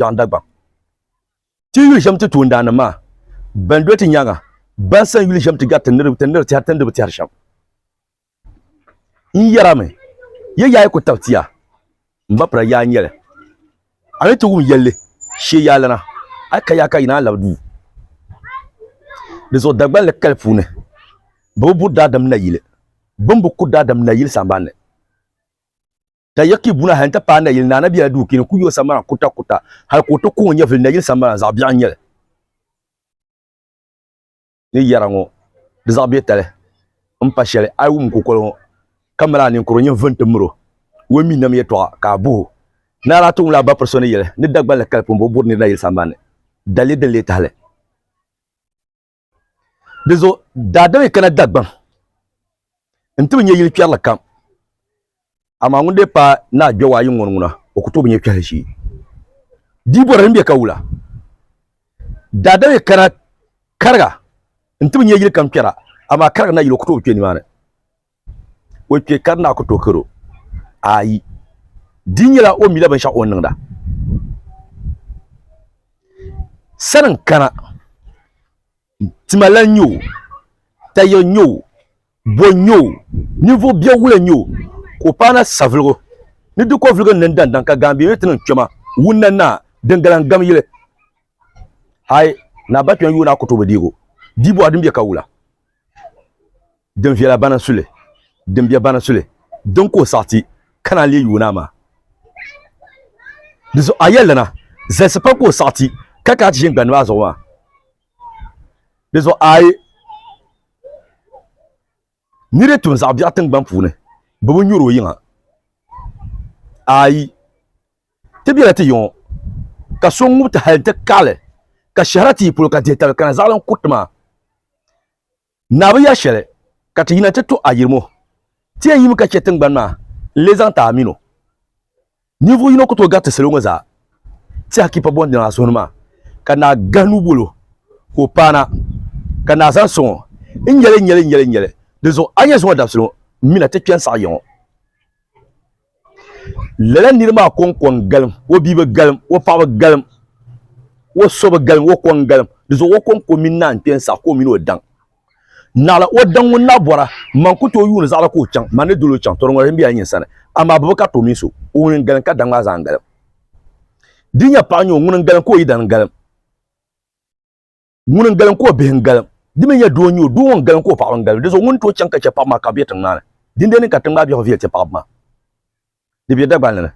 Kpiɔŋ Dagbaŋ. Ti yuli shɛm ti toondaanim maa bɛn doli ti nyaaŋa ban san yuli shɛm ti gari ti niriba ti nir tɛhiri ti ni di bi tɛhiri shɛm. N yɛrimi, ya yaa yi ku tab tia, m ba pira yaa n-nyɛ li. A ni ti wum yɛlli shee yaa lana, a yi ka yaa ka yi naan labi duu. Di zuɣu Dagbanli kali puuni, bɛ bi buri daadam nayili, bɛ ni bi ku daadam nayili sambanni. Ka Yakib ŋuna hali n-ti paai nayili Naa Nabiya duu kini ku yo sambana kutakuta hali ka o ti kɔŋ o nyɛvili nayili sambana zaɣ biɛɣu n-nyɛ li ni yɛra ŋɔ di zaɣ biɛtali m-pa shɛli a yi wum kukoli ŋɔ ka mali a ninkuro nyɛvili nti miri o o ni mi nam yɛtɔɣa ka a boh o Naa daa ti wumla a bapiri so ni yɛli ni Dagbanli kali pun bo buri nir nayili sambanni daliri din lee tahi li. di zuɣu daadam yi kana dagbaŋ n ti bi nyɛ yili kpɛrili kam amaa ŋun dee paai ni a gbɛwaayi ŋɔ ŋuna o ku tooi bi nyɛ kpɛhili shee dii bɔra din bɛ ka wula daadam yi kana kariga n ti bi nyɛ yili kam kpɛra amaa kariga na yili o ku tooi bi kpɛ nimaani o kpɛ ka di naa ku tooi kari o? Aai. Di nyɛla o mila binshɛɣu o ni niŋda. Sani n kana tima lan nyɛ o, taya n nyɛ o, bo n nyɛ o, ninvuɣ biɛwula n nyɛ o, ka o paai na savuligu ni di kɔvuligu n niŋ daŋdaŋ ka gaambihi ni ti niŋ kpɛma wunna naa din gala n gam yili. Aai, Naa Bakpɛn yuun naa ku tooi bi deeg o. Di bɔha din be ka wula? Din viɛla bana suli, din bɛ bana suli, din ka o saɣi ti, ka naan leei yuui naa maa. Di zuɣu a yɛli dana, Zalisi pam ka o saɣi ti, ka kana ti ʒini gbandiba a zuɣu maa. Di zuɣu a yi ni di tum zaɣ biɛɣu tiŋgbani puuni, bɛ bi nyuri o yiŋa. A yi ti bela ti yiŋɔ, ka so ŋub ti hal nti kaɣili, ka shɛhira ti yi polo ka dihi tabi kana zaɣili n kuri ti maa, Naa bi ya shɛli ka ti yina ti to ayirimo. Ti yɛn yimi ka chɛ tiŋgbani maa n-lee zaŋ ti a min o. Ninvuɣ yino ku tooi gari ti salo ŋɔ zaa Tɛhikipa Bɔndilan a suhuni maa, ka naa gahi nuu bol o ka o paana, ka naa zaŋ sɔŋ o, N nyɛli, n nyɛli, n nyɛli, n nyɛli. Dinzuɣu a nyɛ zuŋɔ dabisili ŋɔ m-mina ti kpe n-saɣi ya ŋɔ. Lala niri maa kɔŋkɔŋ galim, o bia bi galim, o paɣa bi galim, o so bi galim, o kɔŋ galim. Di zuɣu o kɔŋ ka o mini naan kpe n-saɣi ka o mini o daŋ. Naɣila o daŋ ŋun na bɔra, man ku tooi yuuni zaɣila ka o chaŋ, man ni dol o chaŋ, tɔ di ŋɔli n-be a nyin sani, amaa bɛ bi kariti o mini so. O ŋuni n-galim ka daŋ maa zaa n-galim. Di nya paɣa n-nyɛ o, ŋuni n-galim ka o yidana galim. ŋuni n galim ka o bihi n galim di mi nyɛ doo n-nyɛ o doo ŋɔ n galim ka o paɣaba n galim di zuɣu ŋuni tooi chaŋ ka chɛ paɣaba maa ka bɛ be tiŋ maa ni dindee ni ka tiŋ maa biɛhigu viɛli ti paɣaba maa di be Dagbanli ni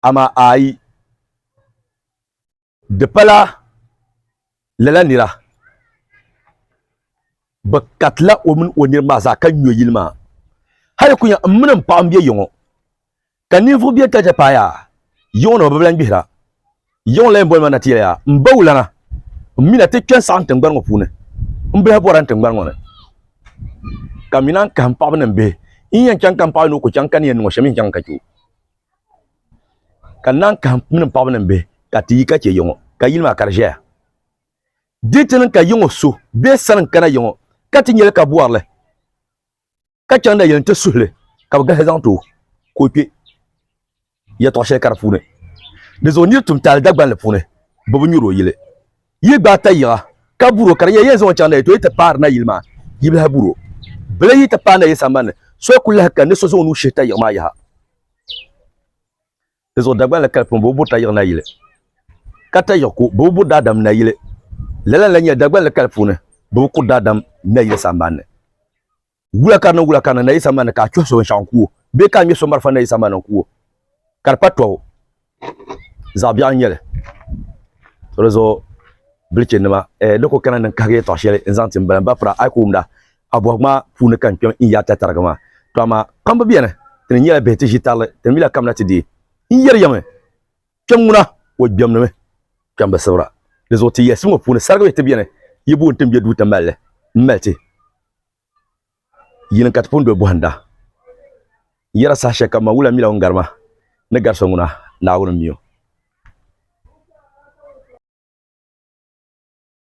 amaa ayi di pala lala nira bɛ katila o mini o niriba maa zaa ka nyo yili maa hali kunya m mini m paɣa m-be yiŋɔ Ka ninvuɣ biɛ ka chɛ paaya yiɣu ni o bi lahi gbihira. Yiɣu n-lahi boli ma na ti yɛliya, M ba wulana, m mi ni a ti kpe n-saɣim tiŋgbani ŋɔ puuni. M bihi bɔrila n tiŋgbani ŋɔ ni, ka m mi naan kahim paɣiba ni m bihi. N yɛn chaŋ ka m paɣa ni o ku chaŋ ka ni yɛn niŋ o shɛm mi n-chaŋ ka chɛ o. Ka n naan kahim m mini m paɣiba ni m bihi ka ti yi ka chɛ yiŋɔ, ka yili maa ka di ʒɛya. Di ti niŋ ka yiŋɔ so be sani n-kana yiŋɔ ka ti nya li ka bɔri li. ka chaŋ na yɛn ti suhili ka bi gahi zaŋ ti o ka o kpɛ yɛtɔɣ shɛli ka di puuni di zuɣu nir tum taali Dagbanli puuni bɛ bi nyuri o yili yi gbaai ta yiŋa ka buri o ka di nyɛ yɛn zaŋ o chaŋ na yi tooi ti paari na yili maa yibilahi buri o bili yi ti paai na yili sambanni so ku lahi kani ni so zaŋ o nuu shihi ta yiɣi maa yaha Di zuɣu Dagban la kali pam bo buri ta yiɣi nayili ka ta yiɣi ku bo buri daadam nayili. Lala n-lahi nyɛli Dagban la kali puuni bo kuri daadam nayili sambanni. Wula ka di niŋ wula ka di niŋ nayili sambanni ka a chuhi so binshɛɣu n-ku o bee ka a ŋme so marafa nayili sambanni n-ku o, ka di pa tɔbu, zaɣ biɛɣu n-nyɛ li. So di zuɣu bilichinima, ni ku kana ni n-kahigi yɛtɔɣ shɛli n-zaŋ ti m bala m ba pira a yi ku wumda. Abɔhigu maa puuni ka n kpɛm n yaata tariga maa, to amaa kpamba beni ti ni nyɛla bihi ti ʒi tarili ti ni mila kamina ti deei. N yeri ya mi, kpɛm ŋuna o gbɛm ni mi kpɛmbi sibira. Di zuɣu ti yɛlisi ŋɔ puuni sarigibihi ti beni yi booni ti ni be duu ti mali li m mali ti yinin ka ti pun doli bɔhinda. N yera saha shɛli kam maa wula mila ŋun gari ma ni gari so ŋuna, Naawuni m-mi o.